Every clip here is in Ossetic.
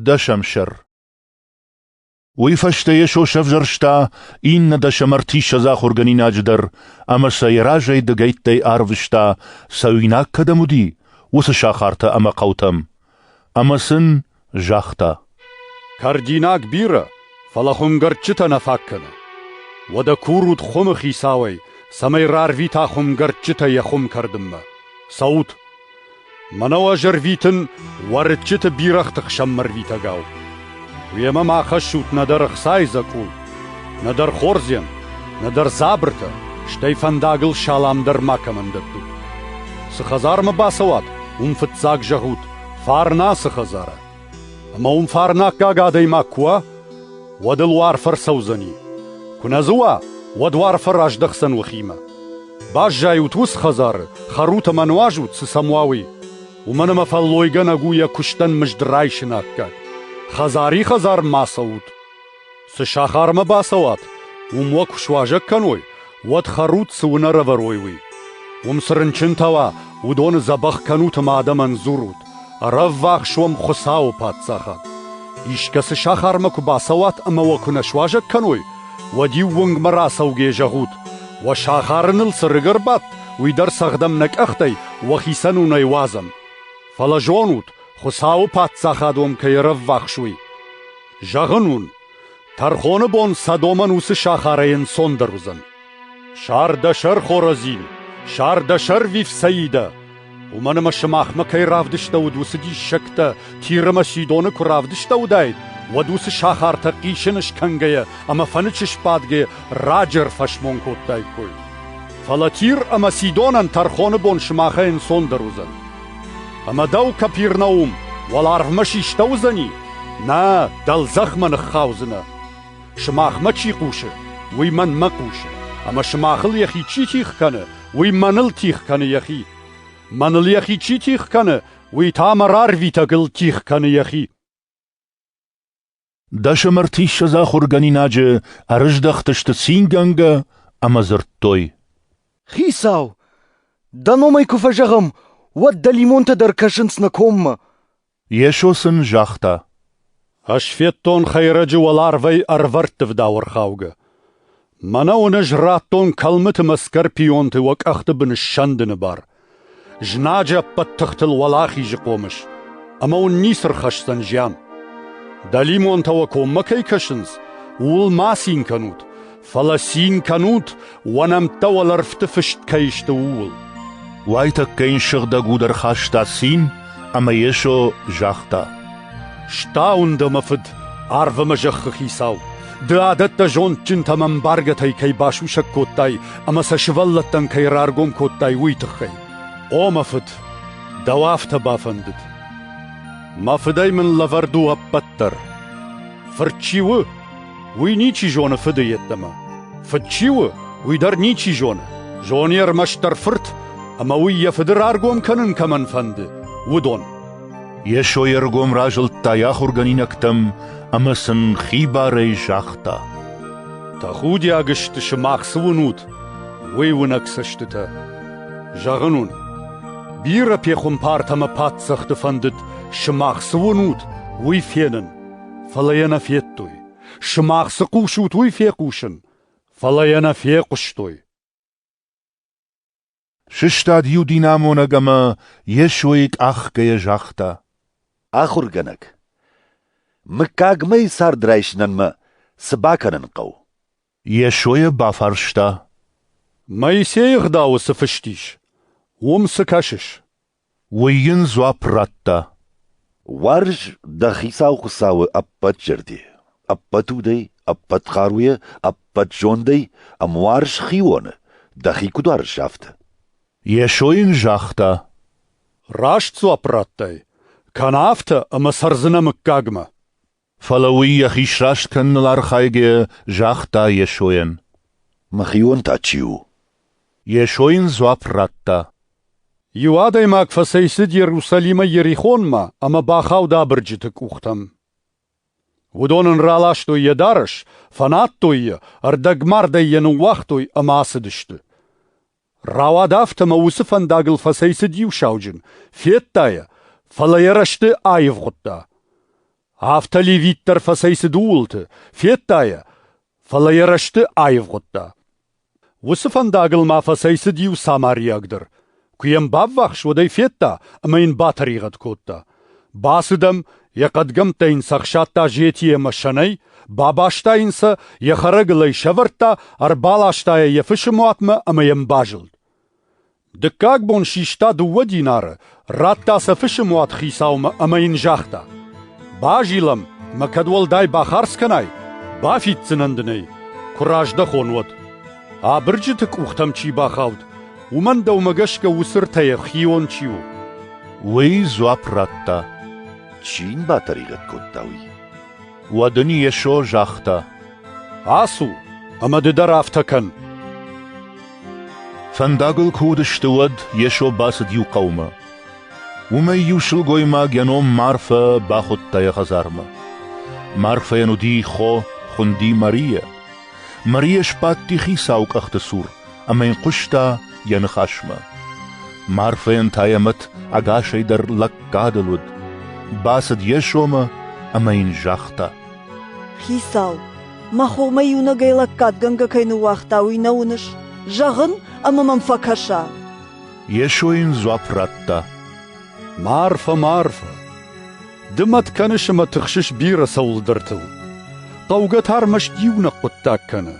Дӕсӕмсӕр Уый фӕстӕ Йесо сӕвзӕрста иннӕ дӕсӕм ӕртиссӕдз ахуыргӕнинаджы дӕр ӕмӕ сӕ йӕ разӕй дыгӕйттӕй арвыста, цӕуинаг кӕдӕм уыди, уыцы сахартӕ ӕмӕ хъӕутӕм. Ӕмӕ сын загъта: «Кӕрдинаг бирӕ, фӕлӕ хуымгӕрдджытӕ нӕ фаг кӕны. Уӕдӕ курут хуымы хицауӕй, цӕмӕй рарвита хуымгӕрдджытӕ йӕ хуым кӕрдынмӕ. Цӕут, Мӕнӕу ӕз ӕрвитын уӕрыччыты бирӕгъты хсӕнмӕ рвитӕгау. Уемӕ ма хӕссут нӕдӕр ӕхцайы дзӕкъул, нӕдӕр хордзен, нӕдӕр дзабыртӕ, стӕй фӕндагыл салам дӕр макӕмӕн дӕттут. Цы хӕдзармӕ бацӕуат, уым фыццаг зӕгъут «Фарнасы хӕдзарӕ». Ӕмӕ уым фарнаккаг адӕймаг куы уа, уӕд ыл уарф ӕрцӕудзӕни. Куы нӕ дзы уа, уӕд уарфӕ раздӕхдзӕн уӕхимӕ. Баззайут уыцы хӕдзары, хӕрут ӕмӕ нуазут, цы сӕм уа, уый. Уымӕн ӕмӕ фӕллойгӕнӕг у йӕ куыстӕн мызд райсыны аккаг. Хӕдзари хӕдзар ма цӕут. Цы сахармӕ бацӕуат, уым уӕ куы суазӕг кӕной, уӕд хӕрут, цы уын ӕрӕвӕрой, уый. Уым цы рынчынтӕ уа, уыдоны дзӕбӕх кӕнут ӕмӕ адӕмӕн дзурут. Ӕрӕввахс уӕм Хуыцауы паддзахад. Искӕцы сахармӕ куы бацӕуат ӕмӕ уӕ куы нӕ суазӕг кӕной, уӕд-иу уынгмӕ рацӕугӕ зӕгъут: уӕ сахары ныл цы рыг ӕрбадт, уый дӕр цӕгъдӕм нӕ къӕхтӕй уӕхицӕн уынӕй уадзӕм. Фӕлӕ зонут, Хуыцауы паддзахад уӕм кӕй ӕрӕввахс, уый. Зӕгъын уын, Тӕрхоны бон Содомӕн уыцы сахарӕй ӕнцондӕр уыдзӕн. Сар дӕ сӕр, Хоразин, сар дӕ сӕр, Вифсаидӕ! Уымӕн ӕмӕ сымахмӕ кӕй равдыстӕуыд уыцы диссӕгтӕ, Тир ӕмӕ Сидоны куы равдыстӕуыдаид, уӕд уыцы сахартӕ хъисын скӕнгӕйӕ ӕмӕ фӕнычы сбадгӕ раджы ӕрфӕсмон кодтаиккой. Фӕлӕ Тир ӕмӕ Сидонӕн тӕрхоны бон сымахӕй ӕнцондӕр уыдзӕн. Ӕмӕ дӕу, Капернаум, уӕларвмӕ систӕуыдзӕни? Нӕ, дӕлдзӕхмӕ ныххаудзынӕ. Сымахмӕ чи хъусы, уый мӕнмӕ хъусы, ӕмӕ сымахыл йӕхи чи тих кӕны, уый мӕныл тих кӕны йӕхи. Мӕныл йӕхи чи тих кӕны, уый та мӕ рарвитӕгыл тих кӕны йӕхи. Дӕсӕм ӕртиссӕдз ахуыргӕнинаджы ӕрыздӕхтысты цингӕнгӕ ӕмӕ дзырдтой. — Хицау, дӕ номӕй куы фӕзӕгъӕм, уӕд дӕлимонтӕ дӕр кӕсынц нӕ коммӕ. Йесо сын загъта. — Ӕсфӕддон хӕйрӕджы уӕларвӕй ӕрвӕрдты вдауӕрхаугӕ. Мӕнӕ уын ӕз радтон кӕлмыты мӕ скорпионты уӕ къӕхты бын ссӕндыны бар. Знаджы ӕппӕт тыхтыл уӕлахизы хъомыс, ӕмӕ уын ницы рхӕсдзӕн зиан. Дӕлимонтӕ уӕ коммӕ кӕй кӕсынц, ууыл ма цин кӕнут, фӕлӕ цин кӕнут, уӕ нӕмттӕ уӕлӕрвты фыст кӕй сты, ууыл. Уайтӕккӕ йын сыгъдӕг уд ӕрхаста цин, ӕмӕ Йесо загъта: Стауын дӕ, мӕ фыд, арв ӕмӕ зӕххы хицау! Ды адӕттӕ зондджынтӕм ӕмбаргӕтӕй кӕй басусӕг кодтай ӕмӕ сӕ сывӕллӕттӕн кӕй раргом кодтай, уый тыххӕй. О, мӕ фыд, дӕу афтӕ бафӕндыд. Мӕ фыдӕй мын лӕвӕрд у ӕппӕт дӕр. Фырт чи у, уый ничи зоны фыды йеддӕмӕ. Фыд чи у, уый дӕр ничи зоны. Зоны ӕрмӕстдӕр фырт, ӕмӕ уый йӕ фыды раргом кӕнын кӕмӕн фӕнды, уыдон. Йесо йе ргом разылдта йӕ ахуыргӕнинӕгтӕм ӕмӕ сын хибарӕй загъта: «Тӕхудиаг сты, сымах цы уынут, уый уынӕг цӕстытӕ. Зӕгъын уын, бирӕ пехуымпартӕ ӕмӕ паддзӕхты фӕндыд сымах цы уынут, уый фенын, фӕлӕ йӕ нӕ федтой. Сымах цы хъусут, уый фехъусын, фӕлӕ йӕ нӕ фехъуыстой». Сыстад иу динамонӕг ӕмӕ Йесойы къахгӕйӕ загъта. Ахуыргӕнӕг, мыггагмӕйы цард райсынӕнмӕ цы бакӕнын хъӕуы? Йесойӕ бафарста. Моисейы ӕгъдауы цы фыст ис, уым цы кӕсыс? Уый йын дзуапп радта: «Уарз дӕ хицау Хуыцауы ӕппӕт зӕрде, ӕппӕт удӕй, ӕппӕт хъаруйӕ, ӕппӕт зондӕй ӕмӕ уарз хионы, дӕхи куыд уарзыс, афтӕ». Йесо йын загъта: «Раст дзуапп радтай, кӕнӕ афтӕ ӕмӕ цӕрдзынӕ мыггагмӕ». Фӕлӕ уый йӕхи сраст кӕныныл архайгӕ загъта Йесойӕн. Мӕхион та чи у? Йесо йын дзуапп радта. Иу адӕймаг фӕцӕйцыд Иерусалимӕ Ерихонмӕ ӕмӕ бахауд абырджыты къухтӕм. Уыдон ын раластой йӕ дарӕс, фӕнадтой йӕ, ӕрдӕгмардӕй йӕ ныууагътой ӕмӕ ацыдысты. Рауад афтӕ мӕ уыцы фӕндагыл фӕцӕйцыд иу сауджын, федта йӕ, фӕлӕ йӕ рӕзты аивгъуыдта. Афтӕ левит дӕр фӕцӕйцыд ууылты, федта йӕ, фӕлӕ йӕ рӕзты аивгъуыдта. Уыцы фӕндагыл ма фӕцӕйцыд иу самариаг дӕр. Куы йӕм баввахс, уӕд ӕй федта ӕмӕ йын батӕригъӕд кодта. Бацыд ӕм, йӕ хъӕдгӕмттӕ йын цы ӕхсадта зетийы ӕмӕ сӕнӕй, бабаста йын сӕ, йӕ хӕрӕгыл ӕй сӕвӕрдта, ӕрбаласта йӕ йӕ фысы муатмӕ ӕмӕ йӕм базылд. Дыккаг бон систа дыууӕ динары, радта сӕ фысы муат хицаумӕ ӕмӕ йын загъта: «Базилӕм, мӕ кӕд уӕлдай бахардз кӕнай, бафиддзынӕн дын ӕй, куы раздӕхон, уӕд. Абырджыты къухтӕм чи бахауд, Уымӕн дӕумӕ гӕсгӕ уыцы ртӕ хион чи у? Уый дзуапп радта. Чи йын батӕригъӕд кодта уый? Уӕд ын Йесо загъта. Ацу ӕмӕ ды дӕр афтӕ кӕн. Фӕндагыл куы уыдысты, уӕд Йесо бацыд иу хъӕумӕ. Уымӕй иу сылгоймаг йӕ ном Марфӕ бахуыдта йӕ хӕдзармӕ. Марфӕйӕн уыди хо, хуынди Мария. Мария сбадти хицауы къӕхты цур ӕмӕ йын хъуыста йӕ ныхасмӕ. Марфӕйӕн та йӕ мӕт ӕгасӕй дӕр лӕггадыл уыд. Бацыд йе сомы ӕмӕ йын загъта. Хицау, мӕ хомӕ иунӕгӕй лӕггадгӕнгӕ кӕй ныууагъта, уый нӕ уыныс? Зӕгъын ӕмӕ мӕм фӕкӕса. Йесо йын дзуапп радта. Марфа, Марфа, ды мӕт кӕныс ӕмӕ тыхсыс бирӕ цӕуылдӕртыл. Хъӕугӕ та ӕрмӕст иунӕг хъуыддаг кӕны.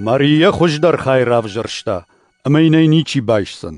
Мария хуыздӕр хай равзӕрста, ӕмӕ йын ӕй ничи байсдзӕн.